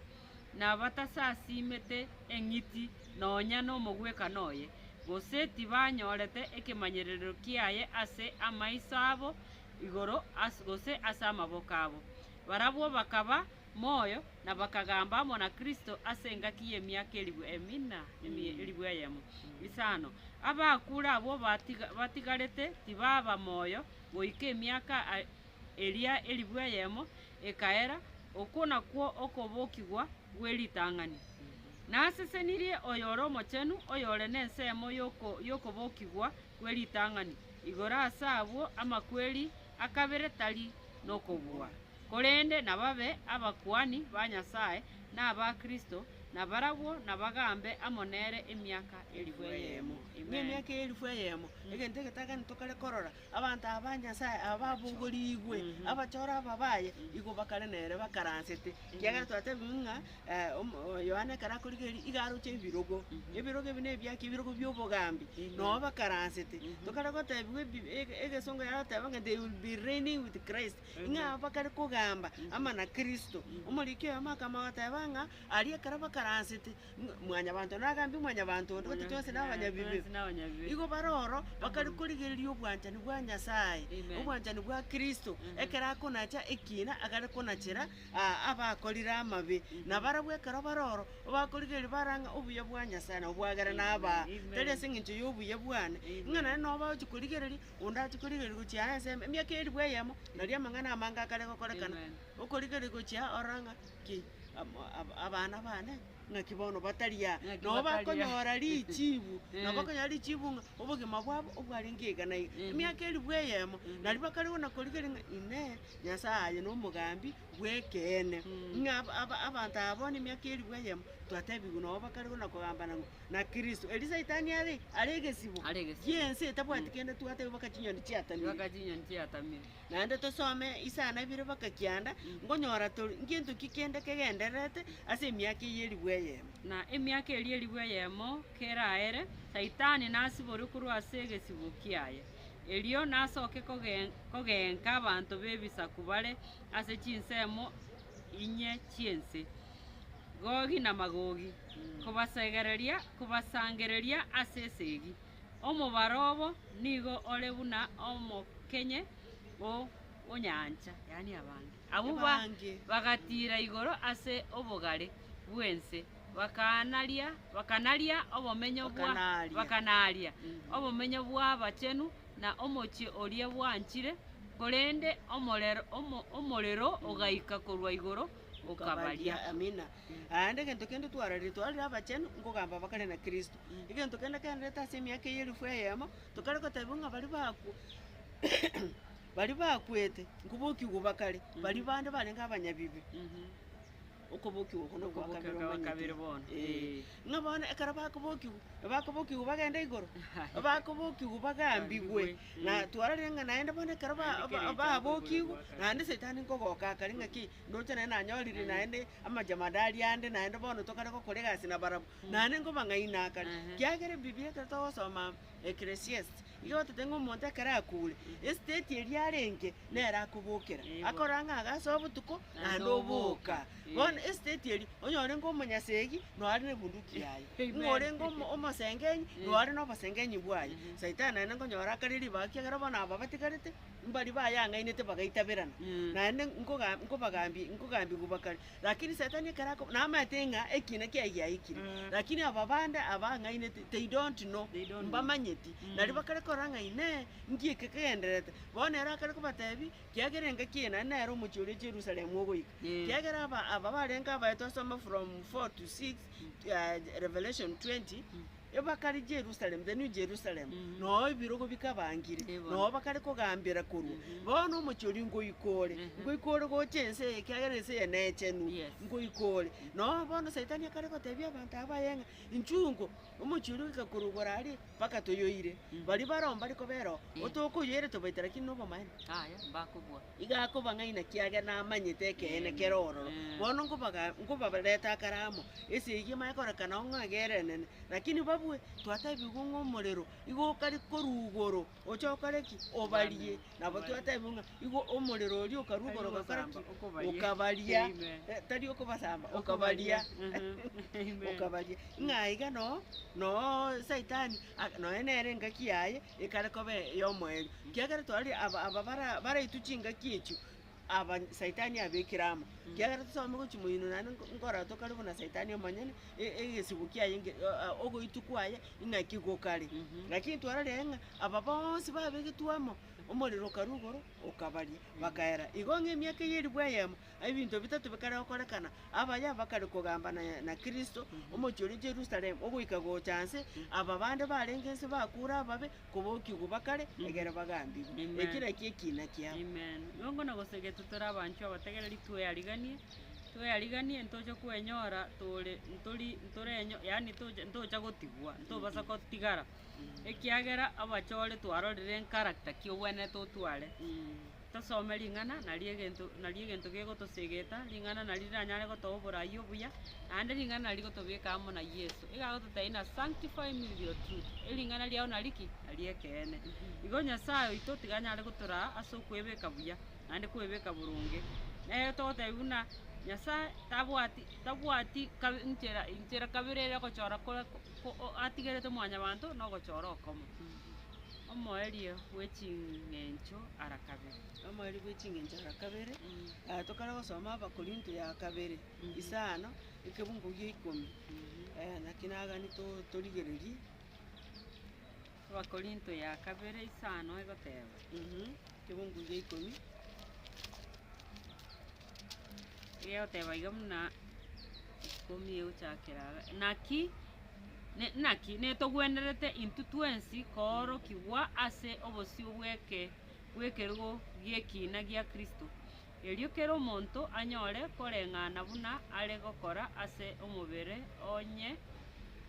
nabatasasiimete eng'iti nonya nomogwekano oye, gose tibanyorete ekemanyererio kiaye ase amaiso abo igoro gose ase amaboko abo. Barabwo bakaba moyo na bakagamba amo na Kristo ase engaki y'emiaka elifu eyemo. Isano. Abakure abwo batigarete tibaba moyo goika emiaka eria elifu eyemo ekaera, okwo nakwo okobokigwa gwe ritang'ani. Nasesenirie oyore omochenu, oyore nensemo y'okobokigwa gwe ritang'ani igoro ase abwo amakweri akabere tari nokobua, korende nababe abakuani ba Nyasae na aba Kristo, na barabwo nabagambe amo nere emiaka elifu eyemo. Amen. Abanto aba ba Nyasae aba babongorigwe, abachore aba baye, igo bakare nere bakaransete, ekiagera twatebigwe ng'a Yohana ekero akorigereria iga aroche ebirogo. Ebirogo ebi nebiaki? Ebirogo bi'obogambi, nabo bakaransete. Tokare gotebigwa ebi- ege- egesongo yaroteba ng'a they will be reigning with Christ, ng'a aba bakare kogamba amo na Kristo. Omoriki oyomo akamanya goteba ng'a aria ekero bakaransete, Mwanyabanto one agambie Mwanyabanto onde, gose twonsi na abanyabibe. Igo bare oro bakare korigereria obwanchani bwa Nyasae, obwanchani bwa Kristo, ekero akonacha ekiina agare konachera aa abakorire amabe. Na barabwo ekero bare oro, bakorigereria bare ng'a obuya bwa Nyasae nabo bwagere nabaa, tari ase engencho y'obuya bwane, ng'a naende nabo bagochi korigereria, onde agochi korigereria gochia aa ensemo, emiaka elfu eyemo, naria amang'ana amange akare gokorekana, okorigereria gochia aa ororo ng'a ki am- ab- abana bane ng'aki bono batari aa, Ng'aki nabo batari aa. bakonyora richibu, nabo Eh. bakonyora richibu ng'a obogima bwabo obwarenge iga na iga, Ehe. emiaka elifu eyemo. Ehe. Nario bakare gona korigereria ng'a inee, Nyasae aye nomogambi bw'ekeene, Mm. ng'a ab- ab- abanto aba bono emiaka elifu eyemo twatebigwe nabo bakare gona kogambana ng'a na Kristo. Erio saitani are are egesibo Are egesibo. gi'ense etabwati kende twateba mpaka chinyoni chiatamire. Mpaka chinyoni chiatamire. Naende tosome isano ibere mpaka kianda, nkonyora tori ngento ki kende kegendererete ase emiaka eyio elifu eyemo. Na emiaka eria elifu eyemo keraere, Saitani nasiborwe korwa ase egesibo kiaye, erio nasoke kogen- kogeenka abanto b'ebisaku bare ase chinsemo inye chi'ense, Gogi na Magogi, kobasegereria, kobasangereria ase esegi. Omobaro obo nigo ore buna omokenye o onyancha, yaani abange. Abwo bange bagatiira igoro ase obogare bw'ense, bakanaria bakanaria obomenyo bwa bakanaaria obomenyo bw'abachenu na omochie oria bwanchire, korende omorero omorero ogaika korwa igoro Okabaria, Amina. Aande egento kende twararire, twararire abachenu, nkogamba abakare na Kristo. Egento kende kenrete ase emiaka eye elifu eyemo, tokare gotebiwa ng'a baria bakwa baria bakwete, nkobokigwa bakare, baria bande barenge abanyabibe, okobokigwa oko nokwa kabere Okobokigwa kwa kabere omanyete. bono, Ee. ee. Ng'a bono ekero bakobokigwa, nabakobokigwa bagende igoro, bakobokigwa bagambigwe, Bagambigwe. Na twarorire ng'a naende bono ekero ba- ba- babokigwe, naende Saitani nkogoka akare ng'a ki, ndoche naende nanyorire naende amajemadari ande, naende bono tokare gokora egasi na barabwo, naende nkobang'aina akare. Kiagera Ebibilia ekero togosoma Ecclesiastes, iga gototebia ng'a omonto ekero akure, estate eria arenge nere akobokera, akorora ng'a agasa obotuko naende oboka. Bono esiteti eria, onye orenge omonyasegi, noare nebunduki yaye, ng'a orenge omo- omosengenyi, noare nobosengenyi bwaye. Saitani naende nkonyora akare ribaga, ekiagera bono aba batigarete, mbaria bayang'ainete bagaitaberana, naende nkoga nkobagambie nkogambigwa bakare. Rakini saitani ekero ako namaete ng'a ekina kiaye giaikire, rakini aba bande abang'ainete they don't know, mbamanyeti. Nario bakare korora ng'a inee, nki eke kegendererete? Bono ere akare kobatebia, Kiagera engaki eye naende nere omochie oria Jerusalemu ogoika. Kiagera aba aba barenge abaye twasoma from four to six, Revelation twenty, bakare Jerusalemu, the new Jerusalemu, na oo ebirogo bikabangire, na oo bakare kogambera korwa. Bono omochie oria nkoika ore, nkoika ore gocha ense eye, kiagera ense eye nechenu, nkoika ore. Na oo bono saitani akare gotebia abanto aba baye ng'a, Inchugo. Omochie oria ogoika korwa igoro aria, mpaka toyoire. Baria bare oo mbare kobera oo, Eh. otokoyoire tobaite lakini nobomani. Aye, mbakobua. Iga akoba ng'aina kiagera namanyete ekeene kere ororo. Eh. Bono nkobaga- nkobabarete akare amo, ase eyio emanye korekana oo ng'a egerenene. Lakini babue, twatebigwe ng'a omorero igo okaria korwa igoro, Oche okore ki? Obarie. Nabo twatebigwe ng'a igo omorero oria okarwa igoro ogakora ki? Okabaria. Eh, tari okobasamba, okabaria. Okabaria. Ng'a iga noo, noo saitani, ak- nonya nere engaki yaye ekare koba eyomoerio. Ekiagera twari aba- aba bara- baraitwe chingaki echio. aba Saitani abekire amo. Kiagera tosome gochia moino naende nko- nkorotwa kare buna Saitani omonyene, e- egesibo kiaye nge- o- a- ogoitwa kwaye ing'aki gokare. Lakini twarorire ng'a aba bonsi babegetwe amo, omorero okaru igoro okabaria, bakaera. Igo ng'a emiaka eyio erigwo eyemo, ebinto bitato bikare gokorekana, abaye bakare kogamba na- na Kristo, omochie oria Jerusalem, ogoika gocha nse, aba bande barenge nse bakure ababe, Kobokia obo bakare, egere bagambigwe. Amen. Ekero ekio ekiina kiabo. Amen. Nongo na gose gete tore abanchwa abategereri tweariganie, tweariganie ntoche kwenyora tore ntori ntorenyo yaani toche ntocha gotigwa, ntobasa gotigara, ekiagera abachore twarorire encharacter ki ogwenerete otware. Tosome ring'ana naria egento naria egento gegotosegeta, ring'ana naria riranyare gotoa oboraia obuya, naende ring'ana naria rigotobeka amo na Yeso. Iga agototebia ng'a sanctify me with your truth, ering'ana riao naria ki? Nario ekeene. Igo Nyasae oito tiga anyare gotoraa ase okwebeka buya, naende kwebeka boronge. Nere togotebia buna Nyasae tabwati tabwati kabi nchera inchera kabere ere ogochora kore ko- ko- o atigerete mwanyabanto na ogochora okomo. Omoerio bwe ching'encho ara kabere. Omoerio bwe ching'encho ara kabere. Aya tokare gosoma Abakorinto ya kabere ise ano, ekebungo gia ikomi. Naki nagani to- torigererie. Abakorinto ya kabere ise ano egoteba. Ekebungo gia ikomi. egegoteba iga buna ikomi egochakera iga, naki ne naki netogwenerete intwe twensi koorokigwa ase obosio bw'eke bw'ekerogo gi'ekina gia Kristo, erio kera omonto anyore koreng'ana buna are gokora ase omobere onye.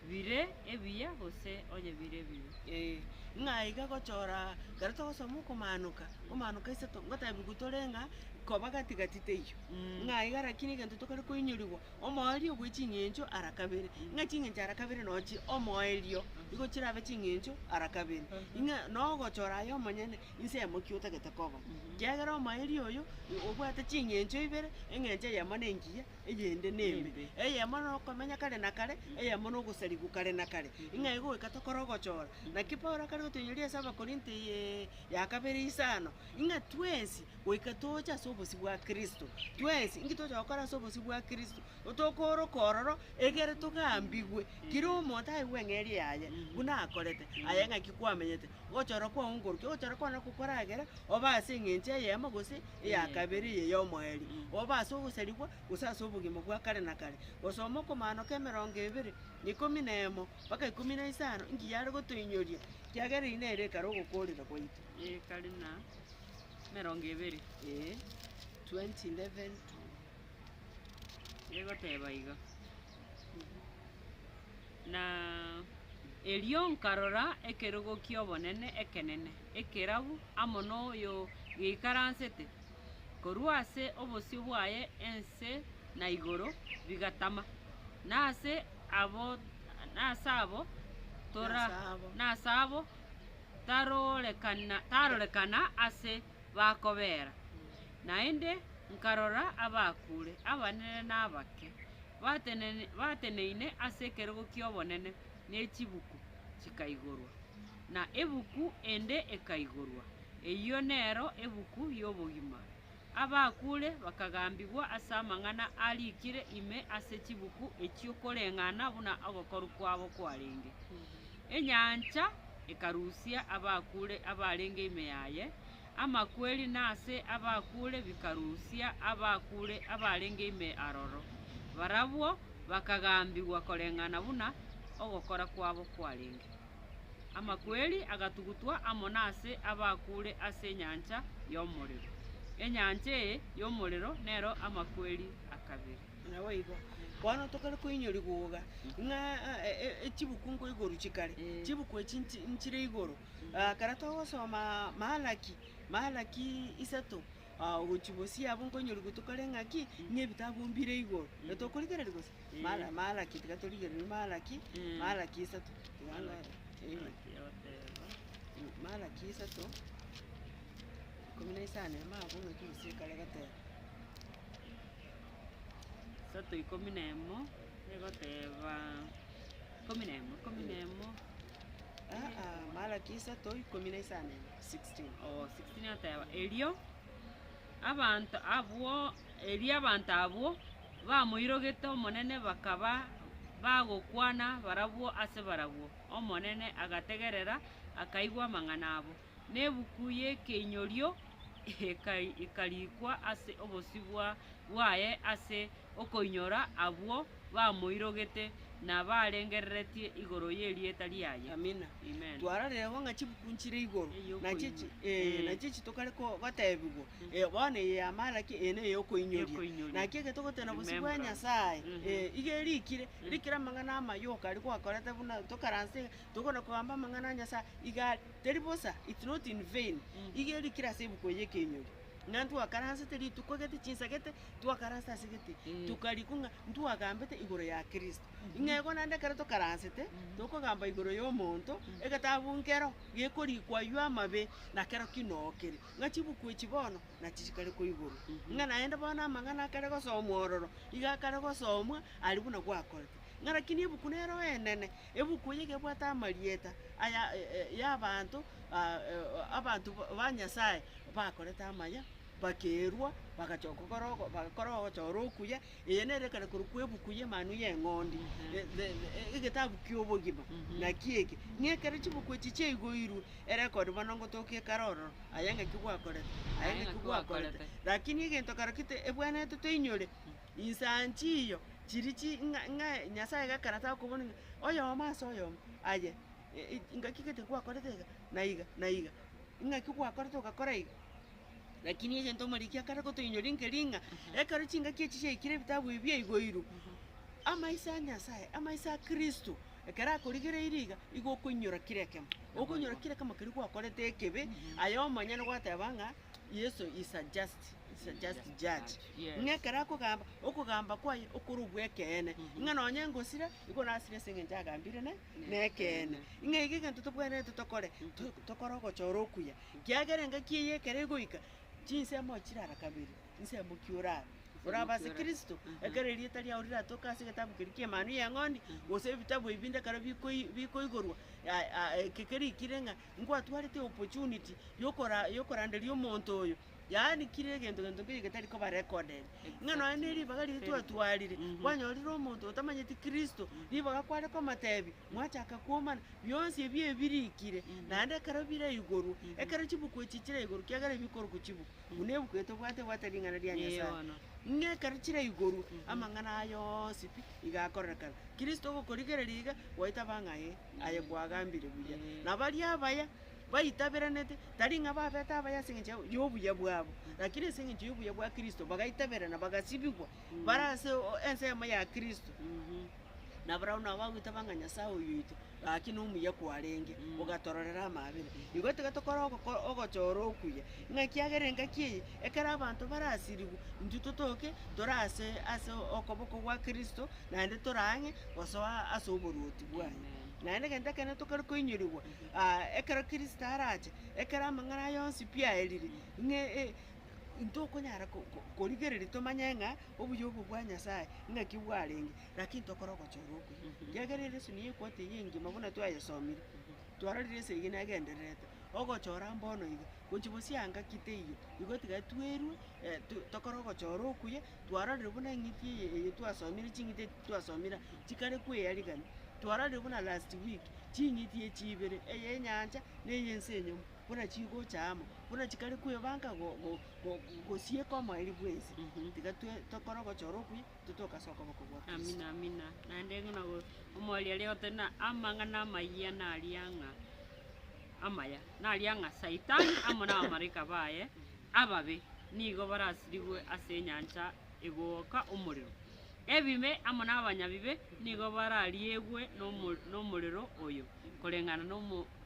bire ebiya gose onye bire ebibe. Ee, ng'a iga gochora ekero togosoma okomaanoka, okomaanoka isato, ngotebigu tore ng'a koba gati gati teiyo, ng'a iga rakini egento tokare koinyorigwa omoerio bwe ching'encho ara kabere, ng'a ching'encho ara kabere no chie omoerio, igo chirabe ching'encho ara kabere. Ing'a no ogochora aye omonyene inse eyemo ki otagete koba, kiagera omoerio oyo obwate ching'encho ibere, eng'encho eyemo nengiya. eyende nembe, eyemo nokomenya kare na kare, eyemo nogosarigwa kare na kare, ng'a igo goika tokore ogochora. Naki Paulo akare gotoinyoria ase Abakorinto eye ya kabere isano, ng'a twensi goika toche ase obosio bwa Kristo, twensi inki tocha gokora ase obosio bwa Kristo, tokooroka ororo egere togambigwe, kera omonto aigwe eng'eria yaye buna akorete, aye ng'aki kwamenyete. Ogochorwa kwao nkoruki? Ogochorwa kwao nako koragere obe ase eng'encho eyemo gose eya kabere eye y'omoerio, obe ase ogosarigwa gose ase obogima bwa kare na kare. Gosoma okomaanoka emerongo ebere na ikomi na emo mpaka ikomi na isano inki yare gotoinyoria, ekiagera eri nere ekare ogokoorera gwaito. Ekare na emerongo ebere. Ee, 20 11 to Egoteba iga. Na erio nkarora ekerogo ki'obonene ekenene, ekerabu amo noyogeikaransete, korwa ase obosio bwaye ense na igoro bigatama, na ase abo tarorekana ase bakobeera. Naende nkarora abakure, abanene na abake. batenene bateneine ase ekerogo ki'obonene, ne chibuku chikaigorwa, na ebuku ende ekaigorwa, eyio nero ebuku y'obogima. Abakuure bakagambigwa ase amang'ana arikire ime ase chibuku echio koreng'ana buna ogokoru kwabo kwarenge. Enyancha ekarusia abakuure abarenge ime yaye, Amakweri na ase abakuure bikarusia abakuure abarenge ime aroro, barabwo bakagambigwa koreng'ana buna ogokora kwabo kwarenge. Amakweri agatugutwa amo nase abakuure ase enyancha y'omorero. Enyancha eye y'omorero nero amakweri a kabere. Naboigo, bono tokare koinywa rigooga, ng'a chibuku nkoiguru chikare, chibuku echi nchire igoro, Ekero togosoma Malaki, Malaki isato, gochia bosio abwo nkonyorigwe tokore ng'aki, ng'a ebitabu mbire igoro. Tokorigereria gose? Mala- Malaki tiga torigereria Malaki, Malaki isato, tiga ndore, Malaki isato, ikomi na isano ime abwo ng'aki bosio ekero egoteba. Malaki isato, ikomi na isano, 16. Oo, 16 ateba, Erio abanto abwo, erio abanto abwo bamoirogete Omonene bakaba bagokwana barabwo ase barabwo, Omonene agategerera, akaigwa amang'ana abo. na ebuku y'ekeinyorio ekarikwa ase obosibwa bwaye ase okoinyora abwo bamoirogete na barengereretie igoro y'erieta riaye. Amina. Amen. Twarorire bo ng'a chibuku nchire igoro, Eye na chichi, okoinyora. eh, Eh. na chichi tokare ko- gotebigwa, eh, bono eye y'amara ki, eye neye okoinyoria. Y'okoinyoria. Naki ekero togotena bosio bwa Remembrance. Nyasaye, Mhm. eh, iga erikire, rikire amang'ana amayoka aria gwakorete buna tokaranse tokona kogamba amang'ana a Nyasae iga are, teri bosa, it's not in vain, iga erio kere ase ebuku eye ekenyori. Ng'a ntwakaransete rituko gete, chinsegete, twakaransete ase gete, tokarikwa ng'a ntwagambete igoro ya Kristo. Ng'a igo naende ekero tokaransete, tokogamba igoro ya omonto, egetabu nkero gekorikwa aywo amabe, na kero ki noo kere. Ng'a chibuku echi bono nachi chikare koiborwa, ng'a naende bono amang'ana akare gosomwa ororo, iga akare gosomwa aria buna gwakorete. Ng'a rakini ebuku nero enene, Ebuku eye gebwate amarieta aya y'abanto abanto ba Nyasae bakorete amaya, bakeirwa, bagachoka gokora ogo bagakora ogochora okuya, eye nere ekare korwa kwa ebuku y'Emanu y'Eng'ondi, the egetabu ki'obogima. Naki eke, ng'a ekero chibuku echi chiaigoirwe, ere ekore bono ngotokia ekare ororo, aye ng'aki gwakorete, aye ng'aki gwakorete. Lakini egento kero kite ebwenerete toinyore. Inse aa nchiiyo chiri chi ng'a ng'a Nyasaye gakarata okobuna ng'a oyomo ase oyomo aye ngaki gete gwakorete iga na iga na iga, ng'aki gwakorete ogakora iga. Lakini egento omoriki akare gotoinyoria nke ring'a, ekero chingaki echi chiaikire ebitabu ebi biaigoirwe, amaiso a Nyasaye, amaiso a Kristo, ekero akorigereiri iga, igo okoinyora kera ekemo, okonyora kera ekemo keria gwakorete ekebe, aye omonyene gwateba ng'a. Yeso is a just is a just judge. Yes. Ng'a ekero akogamba okogamba kwaye okore obw'ekeene, ng'a nonye engosira, igo nasire ase eng'encho agambire ne nekeene. Ng'a iga egento tobwenerete tokore, to- tokore ogochora okuya, kiagera engaki eye ekero egoika, chinsemo chirara kabere, nsemo ki oraba? Oraba ase Kristo, ekero erieta riao riratoke ase egetabu keria ki'Emanu y'Eng'ondi, gose ebitabu ebinde ekero bikoi bikoigorwa, ya- ya- eke kerikire ng'a. Nkwatwarete opportunity yokora yokoranderia omonto oyo, yaani kira egento gento nkeria getari koba recorded. Ng'a nonya ne ribaga riria twatwarire, kwanyorire omonto otamanyeti Kristo, ribaga kware komotebi, mwachaka kwomana, bionsi ebi ebirikire, naende ekero biraigorwa, ekero chibuku echi chiraigorwa, kiagera ebi bikorokwa chibuku, buna ebuku eye tobwate ebwate ring'ana ria Nyasae. Eyono. Ng'a ekero chiraigorwa, amang'ana aya onsi pi iga akorekana. Kristo ogokorigereria iga, gwaetaba ng'a ee. Aye kwagambire buya. Na baria abaya baitaberanete, tari ng'a babete abaya ase engencho y'obuya bwabo, rakini ase engencho y'obuya bwa Kristo bagaitaberana bagasibigwa, bare ase ensemo ya Kristo. Na barabwo nabo bagoitaba ng'a Nyasae oyoito, gaki nomuya kwarenge, ogatororera amaabera. Igo tiga tokore ogoko- ogochora okuya, ng'a ekiagera engaki eye, ekero abanto barasirigwe, intwe totoke tore ase ase okoboko gwa Kristo, naende tore ang'e gosoa ase oboruoti. bwaye. Naende egento ekenene tokare koinyorigwa aa ekero Kristo arache, ekero amang'ana aye onsi pi aerire, ng'a e- e intokonyara ko- ko- korigereria tomanye ng'a obuya obwo bwa Nyasaye ng'aki bwarenge, lakini tokore ogochora okuya. Ekiagera ere esoni ya ekwoti eye engima buna twayesomire, twarorire ase eyio negendererete, ogochora mbono iga, gochia bosio anga ki teiyo, igo tiga twerue to- tokore ogochora okuya. twarorire buna eng'iti eye eye twasomire ching'iti eti twasomire aa chikare koearigani, twarorire buna last week, ching'iti echi ibere, eye enyancha na eye ense enyomo, buna chigocha amo, buna chikare koebanka go- go- go- gosieka omoerio bwa ense, tiga twe tokore ogochora okuya, intwe togasoka okobua kwa Yeso. Amina amina, naende buna go- omwari aria ogote buna amang'ana amayia naria ng'a amaya, naria ng'a saitani amo na abamalaika baye Ababe nigo barasirigwe ase enyancha egooka omorero, ebibe amo nabanyabibe nigo barariegwe nomorero oyo, koreng'ana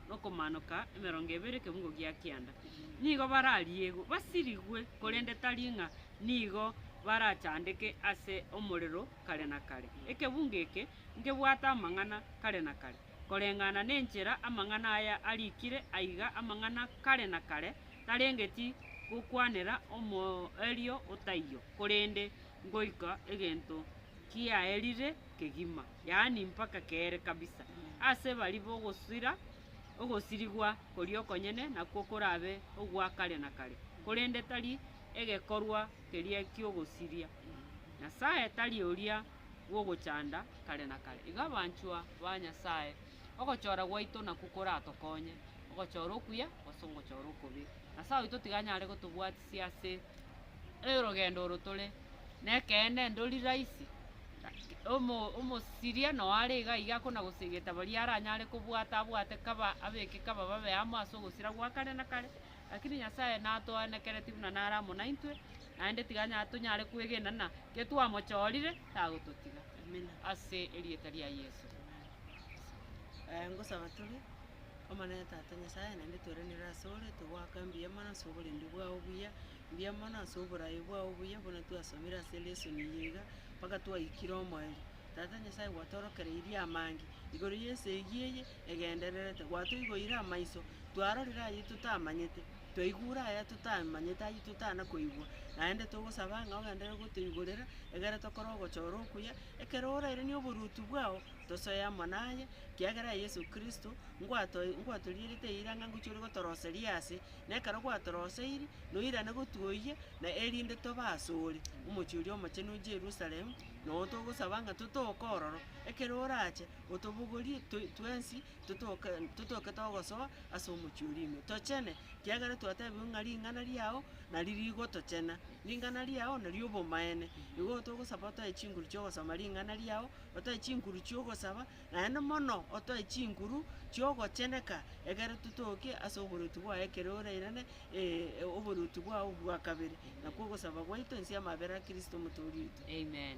nokomanoka emerongo ebere ekeungo gia kianda. Nigo barariegwe, basirigwe, korende tari ng'a nigo barachandeke ase omorero kare na kare. Ekeungo eke nkebwate amang'ana kare na kare, koreng'ana nenchera amang'ana aya arikire aiga, amang'ana kare na kare, tarengeti gokwanera omoerio otaiyo, korende ngoika egento kiaerire kegima, yaani mpaka keere kabisa. Ase bari bogosira, ogosirigwa koria okonyene nakwo korabe ogwa kare na kare, korende tari egekorwa keria ki'ogosiria. Nyasae tari oria bw'ogochanda kare na kare. Igo abanchwa ba Nyasae. Ogochora gwaito nakwo koratokonye ogochora okuya gose ogochora okobe. Nyasae oito tiganyare gotobwatisia ase orogendo oro tore. Nekeene ndori rahisi, omosiria noyo are iga iga akona gosegeta baria aranyare kobwata abwate kaba abeke kaba babe amo ase ogosira gwa kare na kare. Lakini Nyasae natoanekereti buna nare amo naintwe, naende tiganya tonyare kwegena ng'a getwamochorire tagototiga. Ase erieta ria Yeso. ngosaba tore, Omonene Tata Nyasae, naende tweranire ase ore, togoaka mbuya mono ase oborembe bwao obuya, mbuya mono ase oboraai bwao obuya, buna twasomire ase elesoni eye iga, mpaka twaikire omoerio. Tata Nyasae gwatorokereirie amange igoro y'ense eyio eye egendererete, gwatoiboire amaiso, twarorire ayio totamanyete, twaigure aya totamanyete ayio totana koigwa, naende togosaba ng'a ogenderere gotoigorera, egere tokore ogochora okuya, Ekero orairania oboruoti bwao, tosoe amo naye, kiagera Yeso Kristo, ngwatoe ngwatorierete eira ng'a ngochia ore gotoroseria ase, na ekero gwatoroseiri, noirane gotwoyia, na erinde tobe asore, omochie oria omochenu o Jerusalemu, nao togosaba ng'a totoke ororo, ekero orache, otobogorie toi twensi totoke totoke togosoa ase omochie oria ime, tochene, kiagera twatebiwe ng'a ring'ana riao nari rigotochena, ring'ana riao nari obomaene. Igo togosaba otoe chinguru chi'ogosoma ring'ana riao, otoe chinguru chi'ogosaba, naende mono otoe chinguru chi'ogocheneka, egere totoke ase oboruoti bwaye ekero orairane oboruoti bwao bwa kabere. Nakwo ogosaba gwaito inse y'amabera a Kristo Omotoori oito. Amen.